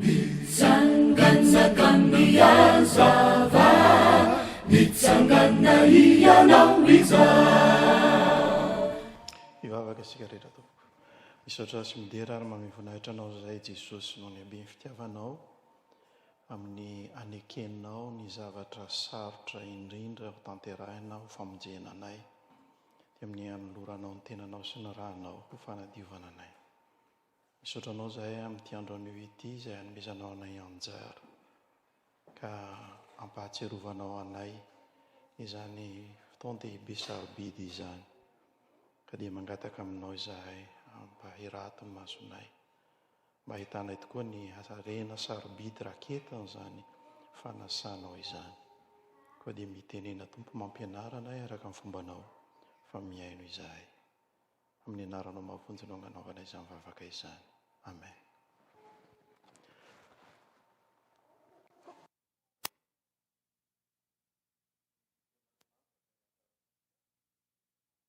Mitsangana ka mihazava, mitsangana hianao izao. Hivavaka isika rehetra tompoko. Misaotra sy midera ary mamehy voninahitra Anao izahay Jesosy noho ny haben'ny fitiavanao amin'ny hanekenao ny zavatra sarotra indrindra ho tanterahina ho famonjena anay dia amin'ny hanoloranao ny tenanao sy ny ranao ho fanadiovana anay. Misaotra anao izahay amin'ity andro anio ity izay hanomezanao anay anjara ka hampahatsiarovanao anay izany fotoan-dehibe sarobidy izany. Ka dia mangataka aminao izahay mba hirato ny masonay mba hahitanay tokoa ny harena sarobidy raketin'izany fanasanao izany. Koa dia mitenena Tompo mampianara anay araka ny fombanao fa mihaino izahay. Amin'ny anaranao mahavonjy no agnanaovana izany vavaka izany. Amen.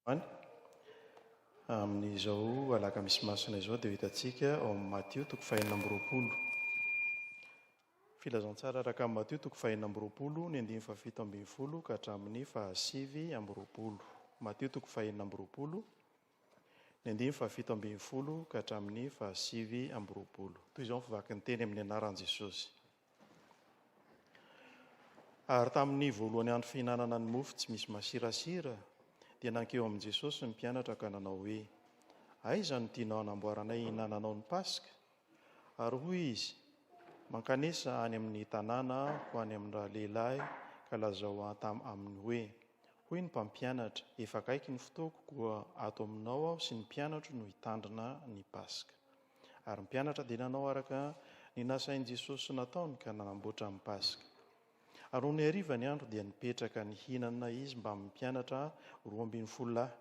Amen. Amin'izao alakamisy masina izao dia ho hitantsika ao amin'ny Matio toko fahenina amby roapolo. Filazantsara araka an'i Matio toko fahenina amby roapolo, ny andininy fahafito ambin'ny folo ka hatramin'ny fahasivy amby roapolo. Matio toko fahenina amby roapolo, ny andininy fahafito ambin'ny folo ka hatramin'ny fahasivy amby roapolo. Toy izao ny fivakin'ny teny amin'ny anaran'i Jesosy. Ary tamin'ny voalohany andro fihinanana ny mofo tsy misy masirasira, dia nankeo amin'i Jesosy ny mpianatra ka nanao hoe, Aiza no tianao hanamboaranay hihinananao ny Paska? Ary hoy izy, Mankanesa any amin' ny tanàna aho any amin' ny ralehilahy, ka lazao aminy hoe, Hoy ny Mpampianatra, Efa akaiky ny fotoako, koa ato aminao aho sy ny mpianatro no hitandrina ny Paska. Ary ny mpianatra dia nanao araka ny nasain' i Jesosy nataony ka nanamboatra ny Paska. Ary nony hariva ny andro dia nipetraka nihinana izy mbamin' ny mpianatra roa ambin'ny folo lahy.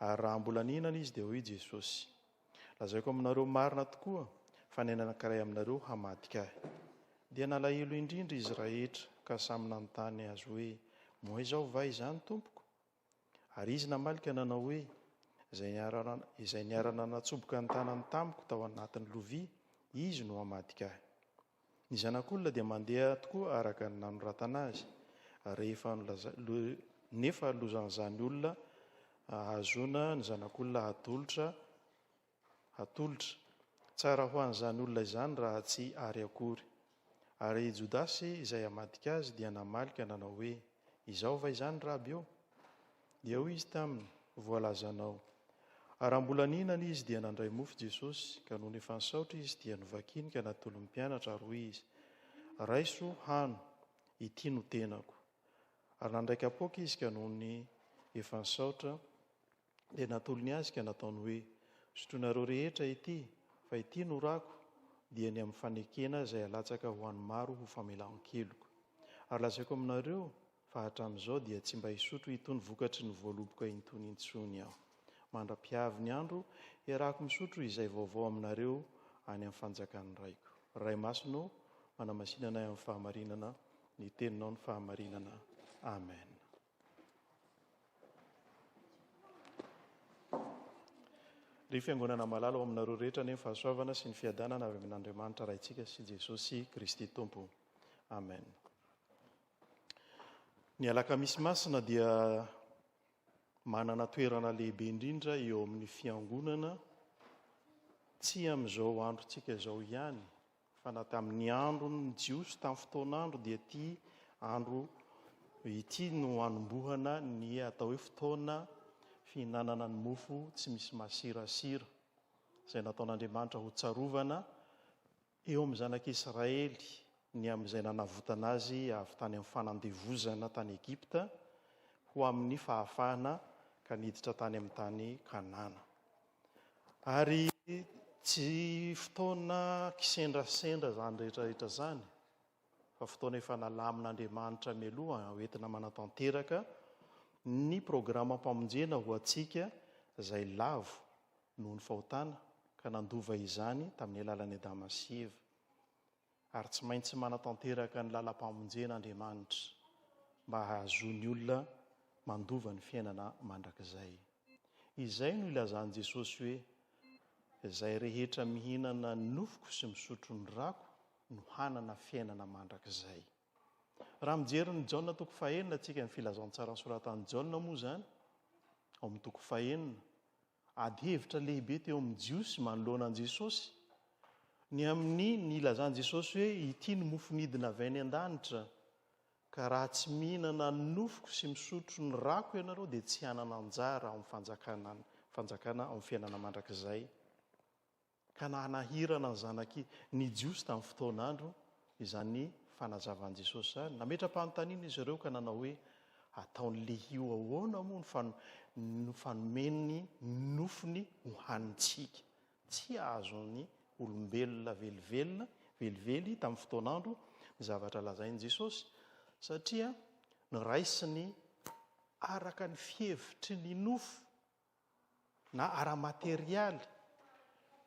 Ary raha mbola nihinana izy dia hoy Jesosy. Lazaiko aminareo marina tokoa, fa ny anankiray aminareo hamadika ahy. Dia nalahelo indrindra izy rahetra, ka samy nanontany Azy hoe, Moa izao va izany, Tompoko? Ary Izy namaly ka nanao hoe, Izay Izay niara-nanatsoboka ny tanany tamiko tao anatin'ny lovia, izy no hamadika ahy. Ny zanak'olona dia mandeha tokoa araka ny nanoratana azy rehefa nefa lozan'izany olona ahazoana ny zanak'olona hatolotra hatolotra. Tsara ho an'izany olona izany raha tsy ary akory. Ary i Jodasy izay hamadika azy dia namaly ka nanao hoe, Izao va izany, Raby ô? Dia hoy izy taminy, Voalazanao. Ary raha mbola nihinana izy, dia nandray mofo Jesosy, ka nony efa nisaotra izy, dia novakiny ka natolony mpianatra, ary hoy izy, Raiso, hano, ity no tenako. Ary nandray kapoaka izy, ka nony efa nisaotra, dia natolony azy, ka nataony hoe, Sotroinareo rehetra ity, fa ity no rako, dia ny amin'ny fanekena izay alatsaka ho an'ny maro ho famelan-keloka. Ary lazaiko aminareo, Fa hatramin'izao dia tsy mba hisotro itony vokatry ny voaloboka intony intsony aho. Mandra-pihavy ny andro, hiarahako misotro izay vaovao aminareo any amin'ny fanjakan'ny Raiko. Ray Masina ô, manamasinana ahy amin'ny fahamarinana, ny Teninao no fahamarinana. Amen. Ry Fiangonana malala, ho aminareo rehetra anie ny fahasoavana sy ny fiadanana avy amin'Andriamanitra Raintsika sy Jesosy Kristy Tompo. Amen. Ny Alakamisy Masina dia manana toerana lehibe indrindra eo amin'ny Fiangonana, tsy amin'izao androntsika izao ihany, fa na tamin'ny andron'ny Jiosy tamin'ny fotoan'andro dia ity andro ity no anombohana ny atao hoe fotoana fihinanana ny mofo tsy misy masirasira, izay nataon'Andriamanitra hotsarovana Eo amin'ny zanak'i Israely ny amin'izay nanavotana azy avy tany amin'ny fanandevozana tany Egypta ho amin'ny fahafahana ka niditra tany amin'ny tany Kanana. Ary tsy fotoana kisendrasendra izany rehetrarehetra izany, fa fotoana efa nalamin'Andriamanitra mialoha hoentina manatanteraka ny programam-pamonjena ho antsika izay lavo noho ny fahotana ka nandova izany tamin'ny alalan'i Adama sy Eva. Ary tsy maintsy manatanteraka ny lalampamonjena Andriamanitra mba hahazoan'ny olona mandova ny fiainana mandrakizay. Izay no ilazan'i Jesosy hoe, Izay rehetra mihinana ny nofoko sy misotro ny rako no hanana fiainana mandrakizay. Raha mijery ny Jaona toko fahenina tsika ny filazantsaran'ny soratan'i Jaona moa izany, ao amin'ny toko fahenina Ady hevitra lehibe teo amin'ny Jiosy manoloana an'i Jesosy ny amin'ny nilazan'i Jesosy hoe, Ity ny mofo nidina avy any an-danitra, ka raha tsy mihinana ny nofoko sy misotro ny rako ianareo dia tsy hanana anjara ao amin'ny fanjakana ao amin'ny fiainana mandrakizay. ka nanahirana ny zanaky ny Jiosy tamin'ny fotoan'andro izany fanazavan'i Jesosy izany. Nametra-panontaniana izy ireo ka nanao hoe, Ataon'i Lehio ahoana moa ny fanomeny ny nofony hohanintsika? Tsy azon'ny olombelona velively velively tamin'ny fotoan'andro ny zavatra lazain'i Jesosy, satria noraisiny araka ny fihevitry ny nofo. na ara-materialy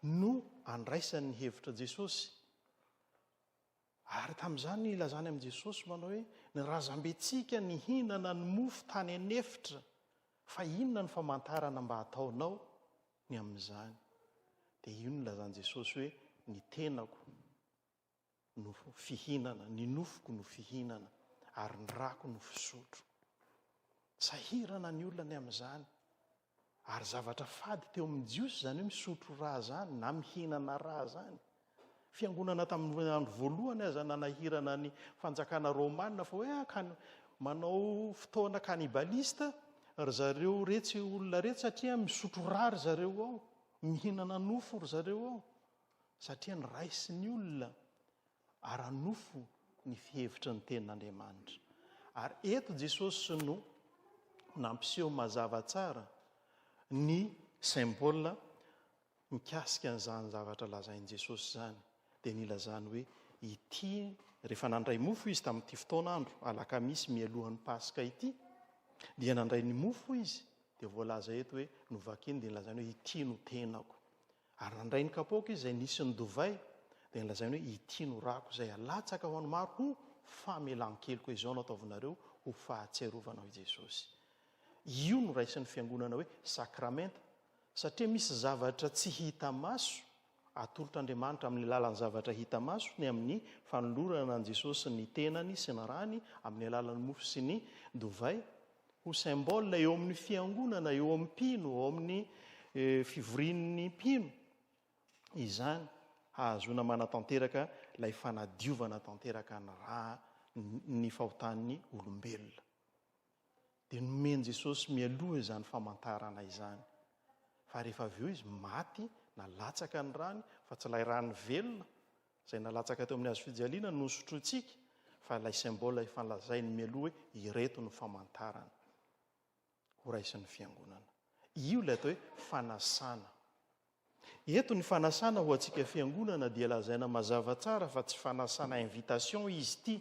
no andraisany ny hevitra Jesosy. Ary tamin'izany nilazany amin'i Jesosy manao hoe ny razambentsika nihinana ny mofo tany an'efitra fa inona ny famantarana mba ataonao ny amin'izany? Dia io nilazan'i Jesosy hoe ny tenako. no fihinana, ny nofoko no fihinana ary ny rako no fisotro. Sahirana ny olona ny amin'izany. Ary zavatra fady teo amin'ny Jiosy izany hoe misotro rà izany na mihinana rà izany. Fiangonana tamin'ny andro voalohany aza nanahirana ny fanjakana romana fa hoe ah, manao fotoana cannibalistes ry zareo retsy olona retsy satria misotro rà ry zareo ao, mihinana nofo ry zareo ao. satria noraisin'ny olona ara-nofo ny fihevitry ny tenin'Andriamanitra. Ary eto Jesosy no nampiseho mazava tsara ny symbole mikasika an'izany zavatra lazain'i Jesosy izany, dia nilazany hoe ity, rehefa nandray mofo izy tamin'ity fotoan'andro alakamisy mialohan'ny Paska ity, dia nandray ny mofo izy, dia voalaza eto hoe, novakiny dia nilazainy hoe ity no tenako. Ary nandray ny kapoaka izy izay nisy ny dovay, dia nolazainy hoe, Ity no rako izay alatsaka ho an'ny maro ho famelan-keloka, izao no ataovinareo ho fahatsiarovana aho i Jesosy. Io no raisin'ny Fiangonana hoe sakramenta, satria misy zavatra tsy hita maso atolotr'Andriamanitra amin'ny alalan'ny zavatra hita maso, ny amin'ny fanolorana an'i Jesosy ny tenany sy ny rany amin'ny alalan'ny mofo sy ny dovay, Ho symbole eo amin'ny fiangonana, eo amin'ny mpino, eo amin'ny fivorian'ny mpino izany hahazoana manatanteraka ilay fanadiovana tanteraka ny ra ny fahotan'ny olombelona. Dia nomen'i Jesosy mialoha izany famantarana izany. Fa rehefa avy eo izy maty na latsaka ny rany fa tsy ilay rany velona Izay nalatsaka teo amin'ny hazo fijaliana no nosotrointsika, fa ilay symbole efa lazainy mialoha hoe ireto no famantarana horaisin'ny Fiangonana. Io ilay atao hoe fanasana. Eto ny fanasana ho antsika Fiangonana dia lazaina mazava tsara fa tsy fanasana invitation izy ity,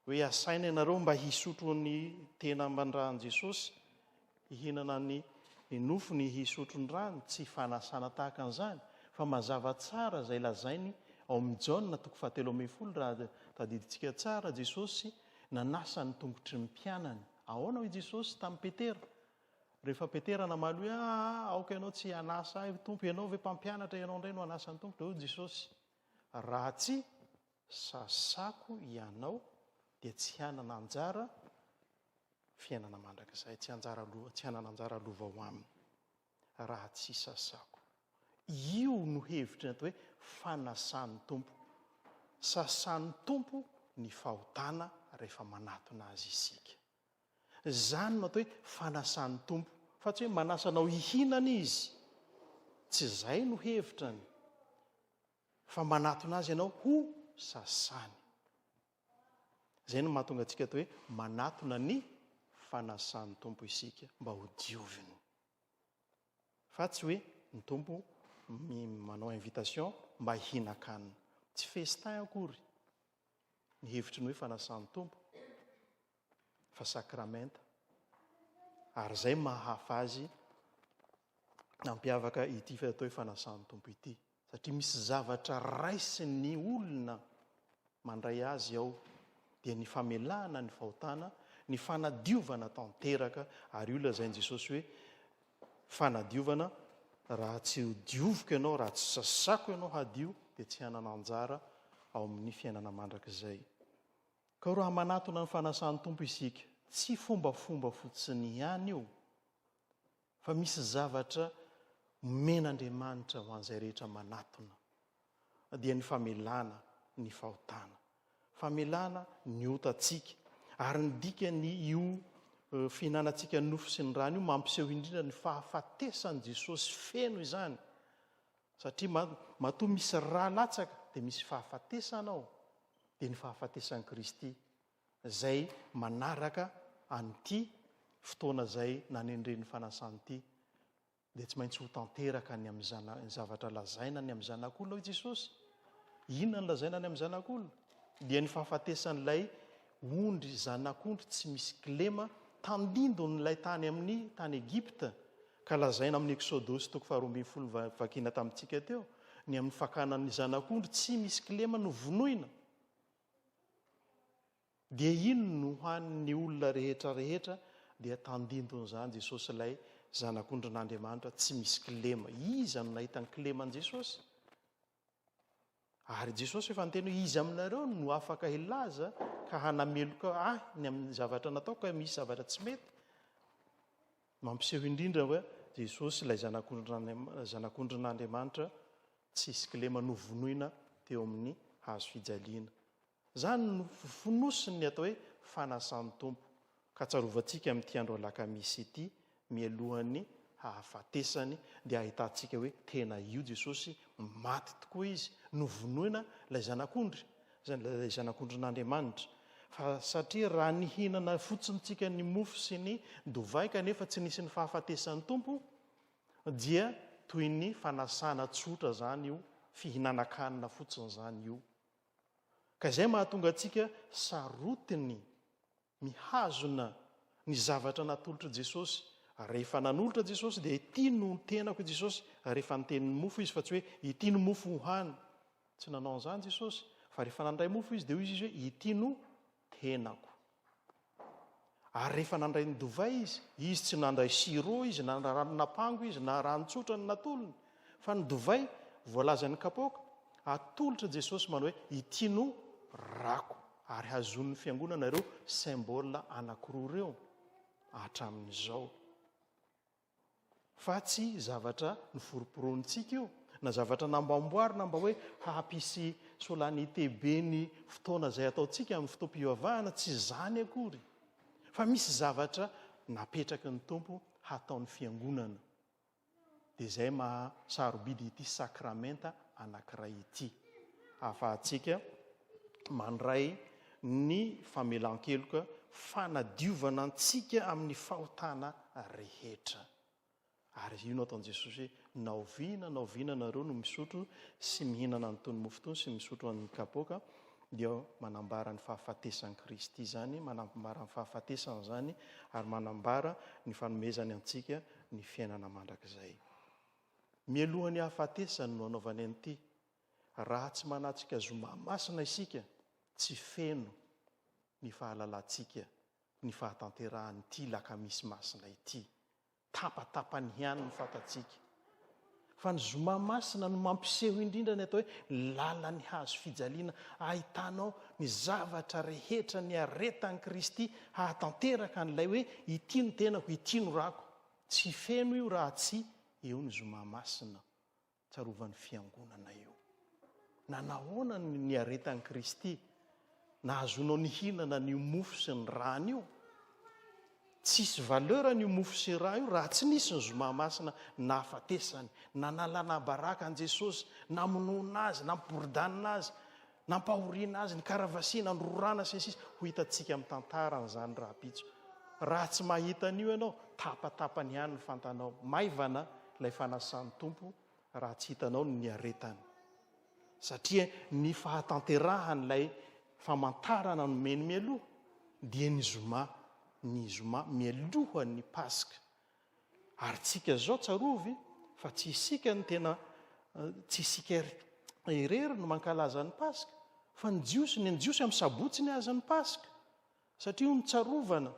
Hoe asaina ianareo mba hisotro ny tena amban-dran'i Jesosy, hihinana ny nofony, hisotro ny rany, tsy fanasana tahaka an'izany, fa mazava tsara izay lazainy ao amin'ny Jaona toko fahatelo ambin'ny folo raha tadidintsika tsara, Jesosy nanasa ny tongotry ny mpianany. Ahoana hoy Jesosy tamin'i Petera? Rehefa Petera namaly hoe, ah, ah, ah, aoka ianao tsy hanasa ahy, Tompo, ianao ve mpampianatra, ianao indray no hanasa ny tongotro? Hoy Jesosy, raha tsy Sasako ianao dia tsy hanana anjara fiainana mandrakizay, tsy anjara lova, tsy hanana anjara lova ao aminy raha tsy sasako. Io no hevitry ny atao hoe fanasan'ny Tompo. Sasan'ny Tompo ny fahotana rehefa manatona Azy isika. Izany no atao hoe fanasan'ny Tompo, fa tsy hoe manasa anao hihinana Izy. Tsy izay no hevitrany. Fa manatona azy ianao ho sasany. Izay no mahatonga antsika atao hoe manatona ny fanasan'ny Tompo isika mba ho dioviny. Fa tsy hoe ny Tompo manao invitation mba hihinan-kanina. Tsy festin akory ny hevitry ny hoe fanasan'ny Tompo fa sakramenta. Ary izay mahahafa azy nampiavaka ity atao hoe fanasan'ny Tompo ity. Satria misy zavatra raisin'ny olona mandray azy ao, dia ny famelana ny fahotana, ny fanadiovana tanteraka, ary io lazain'i Jesosy hoe fanadiovana, raha tsy hodioviko ianao, raha tsy sasako ianao hadio, dia tsy hanana anjara ao amin'ny fiainana mandrakizay. Koa raha manatona ny fanasan'ny Tompo isika, tsy fombafomba fotsiny ihany io, Fa misy zavatra omen'Andriamanitra ho an'izay rehetra manatona, dia ny famelana ny fahotana, famelana ny otantsika. Ary ny dikan'io fihinanantsika ny nofo sy ny rany io, mampiseho indrindra ny fahafatesan'i Jesosy feno izany. Satria matoa misy ra latsaka, dia misy fahafatesana ao, dia ny fahafatesan'i Kristy izay manaraka an'ity fotoana izay nanendren'ny fanasana ity, dia tsy maintsy ho tanteraka ny amin'ny zana-, ny zavatra lazaina ny amin'ny Zanak'Olona, hoy Jesosy. Inona no lazaina ny amin'ny Zanak'Olona? Dia ny fahafatesan'ilay ondry, zanak'ondry tsy misy kilema, tandindon'ilay tany amin'ny tany Egypta, ka lazaina amin'ny Eksodosy toko faharoa ambin'ny folo vakina tamintsika teo, ny amin'ny fakana ny zanak'ondry tsy misy kilema novonoina. Dia iny no ho an'ny olona rehetra rehetra dia tandindon'izany Jesosy ilay zanak'ondrin'Andriamanitra tsy misy kilema. Iza no nahita ny kileman'i Jesosy? Ary Jesosy efa niteny hoe iza aminareo no afaka hilaza ka hanameloka ahy ny amin'ny zavatra nataoko ka misy zavatra tsy mety? Mampiseho indrindra hoe Jesosy ilay Zanak'ondrin'Andriamanitra tsisy kilema novonoina teo amin'ny hazo fijaliana. Izany no fonosin'ny atao hoe fanasan'ny Tompo, ka tsarovantsika amin'ity andro alakamisy ity mialohan'ny hahafatesany dia hahitantsika hoe tena io Jesosy, maty tokoa izy, novonoina ilay Zanak'ondry. izay nolazain'ny Zanak'ondrin'Andriamanitra, fa satria raha nihinana fotsiny tsika ny mofo sy ny dovay kanefa tsy nisy ny fahafatesan'ny Tompo, dia toy ny fanasana tsotra izany io fihinanan-kanina fotsiny izany io. Ka izay mahatonga antsika sarotiny Mihazona ny zavatra natolotr'i Jesosy. Rehefa nanolotra Jesosy dia ity no tenako i Jesosy rehefa niteny ny mofo izy fa tsy hoe ity no mofo ho hany. Tsy nanao an'izany Jesosy fa rehefa nandray mofo izy dia hoy izy hoe ity no tenako. Ary rehefa nandray ny dovay izy, izy tsy nandray sirop izy na rano napango izy na rano tsotra ny natolony fa ny dovay voalazan'ny kapoaka atolotra Jesosy manao hoe ity no rako. Ary hazonin'ny fiangonana ireo symbole anankiroa ireo hatramin'izao. Fa tsy zavatra noforomporontsika io, na zavatra namboamboarina mba hoe hampisy solennité be ny fotoana izay ataontsika amin'ny fotoam-pivavahana, tsy izany akory. Fa misy zavatra napetraky ny Tompo hataon'ny fiangonana. dia izay maha sarobidy ity sakramenta anankiray ity. Ahafahantsika mandray ny famelan-keloka fanadiovana antsika amin'ny fahotana rehetra. Ary io no ataon'i Jesosy hoe, na oviana na oviana anareo no misotro sy mihinana an'itony mofo itony sy misotro an'ny kapoaka, dia manambara ny fahafatesan'i Kristy izany, manambara ny fahafatesany izany, ary manambara ny fanomezany antsika ny fiainana mandrakizay. Mialoha ny hahafatesany no anaovany an'ity. Raha tsy manatrika zoma masina isika, tsy feno ny fahalalantsika ny fahatanterahan'ity lakamisy masina ity. Tapatapany ihany ny fantatsika. Fa ny Zoma masina no mampiseho indrindra ny atao hoe lalan'ny hazo fijaliana ahitanao ny zavatra rehetra niaretan'i Kristy hahatanteraka an'ilay hoe ity no tenako, ity no rako. Tsy feno io raha tsy eo ny Zoma masina tsarovan'ny Fiangonana io. Nanahoana ny niaretan'i Kristy? Nahazoanao nihinana an'io mofo sy ny rà an'io? Tsy hisy valeur an'io mofo sy rà io raha tsy nisy ny Zoma Masina nahafatesany, nanalana baraka an'i Jesosy, namonoana Azy, nampiboridanina Azy, nampahoriana Azy, nikaravasiana, nororana sy ny sisa Ho hitantsika amin'ny tantara an'izany rahampitso. Raha tsy mahita an'io ianao, tapatapany ihany ny fantanao. Maivana ilay fanasan'ny Tompo raha tsy hitanao ny niaretany. satria ny fahatanterahan'ilay famantarana nomeny mialoha dia ny zoma, ny zoma mialoha ny Paska. Ary tsika zao tsarovy fa tsy isika no tena tsy isika irery no mankalaza ny Paska fa ny Jiosy, ny Jiosy amin'ny Sabotsy ny azy ny Paska. Satria ho ny tsarovana.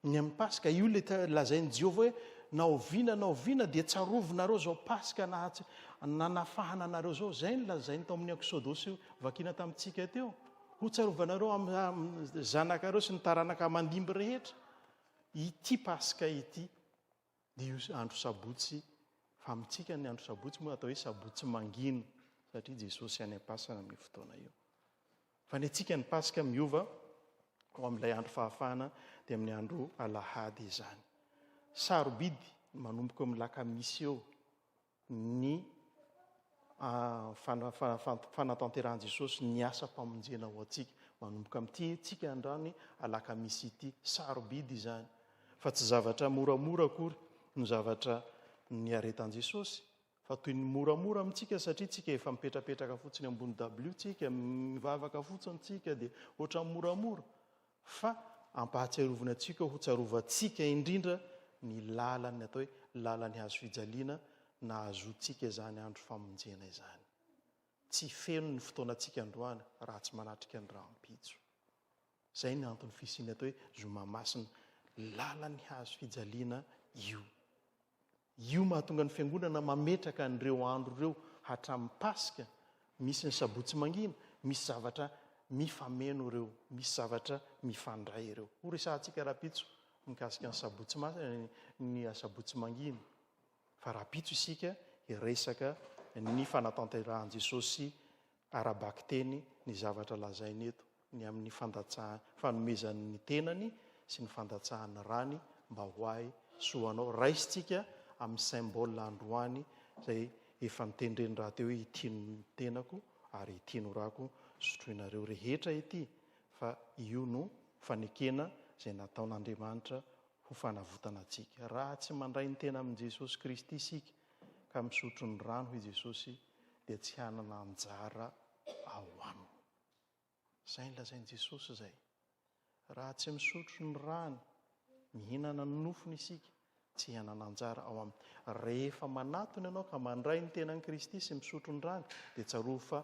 Ny amin'ny Paska, io ilay lazain'i Jehovah hoe, Na oviana na oviana, dia tsarovinareo izao Paska nanafahana anareo izao. Izay no lazainy tao amin'ny Eksodosy vakiana tamintsika teo. Ho tsarovanareo amin'ny zanakareo sy ny taranaka mandimby rehetra ity Paska ity. Io andro sabotsy, fa amintsika ny andro sabotsy moa atao hoe sabotsy mangina, satria Jesosy any am-pasana amin'io fotoana io. Fa ny antsika ny Paska miova ho amin'ilay andro fahafahana dia amin'ny andro alahady izany. Sarobidy manomboka eo amin'ny lakamisy eo ny fanatanterahan'i Jesosy ny asam-pamonjena ho antsika. Manomboka amin'ity tsika androany alakamisy ity. Sarobidy izany, fa tsy zavatra moramora akory no zavatra niaretan'i Jesosy, fa toy ny moramora amintsika satria tsika efa mipetrapetraka fotsiny ambony dabilio tsika, mivavaka fotsiny tsika dia ohatran'ny moramora. fa ampahatsiaroviny antsika ho tsarovantsika indrindra ny lalan'ny atao hoe lalan'ny hazo fijaliana nahazoantsika izany andro famonjena izany. Tsy feno ny fotoanantsika androany raha tsy manatrika ny rahampitso. Izay ny anton'ny fisian'ny atao hoe zoma masina lalan'ny hazo fijaliana io. Io mahatonga ny Fiangonana mametraka an'ireo andro ireo hatramin'ny Paska, misy ny Sabotsy Mangina, misy zavatra mifameno ireo, misy zavatra mifandray ireo. Ho resahantsika rahampitso mikasika ny Sabotsy Masina, ny Sabotsy Mangina. Fa rahampitso isika hiresaka ny fanatanterahan'i Jesosy ara-bakiteny ny zavatra lazainy eto, ny amin'ny fandatsahany, fanomezany ny tenany sy ny fandatsahany rany mba ho ahy soa anao. Raisintsika amin'ny symbole androany izay efa notendreny rahateo hoe ity no tenako ary ity no rako sotroinareo rehetra ity fa io no fanekena izay nataon'Andriamanitra ho fanavotana antsika. Raha tsy mandray ny tena amin'i Jesosy Kristy isika ka misotro ny rano i Jesosy, dia tsy hanana anjara ao aminy. Izay no lazain'i Jesosy izay. Raha tsy misotro ny rany, mihinana ny nofony isika, tsy hanana anjara ao aminy. Rehefa manatona ianao ka mandray ny tenan'i Kristy sy misotro ny rany dia tsarovy fa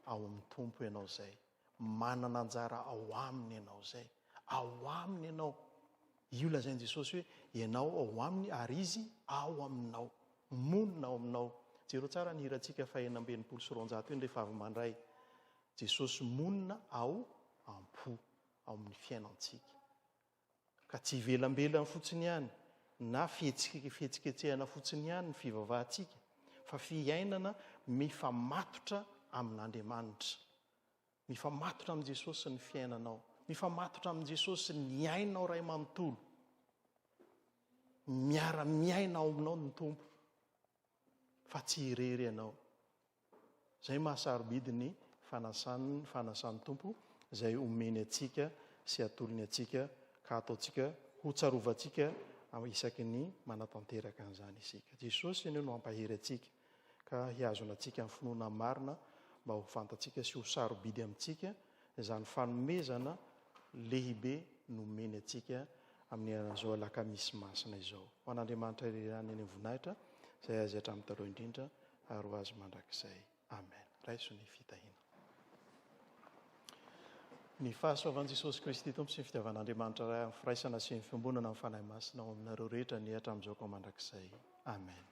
ao amin'ny Tompo ianao izay. Manana anjara ao aminy ianao. Izay. Ao aminy ianao. Io lazain'i Jesosy hoe, ianao ao aminy ary Izy ao aminao. Monina ao aminao. Jereo tsara ny hirantsika fahenina amby enimpolo sy roanjato iny rehefa avy mandray. Jesosy monina ao am-po, ao amin'ny fiainantsika. ka tsy ivelambelany fotsiny ihany na fihetsiketsehana fotsiny ihany ny fivavahantsika fa fiainana mifamatotra amin'Andriamanitra. Mifamatotra amin'i Jesosy ny fiainanao, mifamatotra amin'i Jesosy ny ainao ray manontolo. Miara-miaina ao aminao ny Tompo fa tsy irery ianao. Izay maha sarobidy ny fanasany ny fanasan'ny Tompo izay omeny antsika sy atolony antsika ka ataontsika ho tsarovantsika isaky ny manatanteraka an'izany isika. Jesosy anie no hampahery antsika ka hihazona antsika amin'ny finoana marina mba ho fantatsika sy ho sarobidy amintsika izany fanomezana lehibe nomeny antsika amin'ny an'izao alakamisy masina izao. Ho an'Andriamanitra irery ihany eny ny voninahitra izay azy hatramin'ny taloha indrindra. ary ho azy mandrakizay. Amen. Raiso ny fitahiana. Ny fahasoavan'i Jesosy Kristy Tompo sy ny fitiavan'Andriamanitra Ray amin'ny firaisana sy ny fiombonana amin'ny Fanahy Masina ao aminareo rehetra ny hatramin'izao ka mandrakizay. Amen.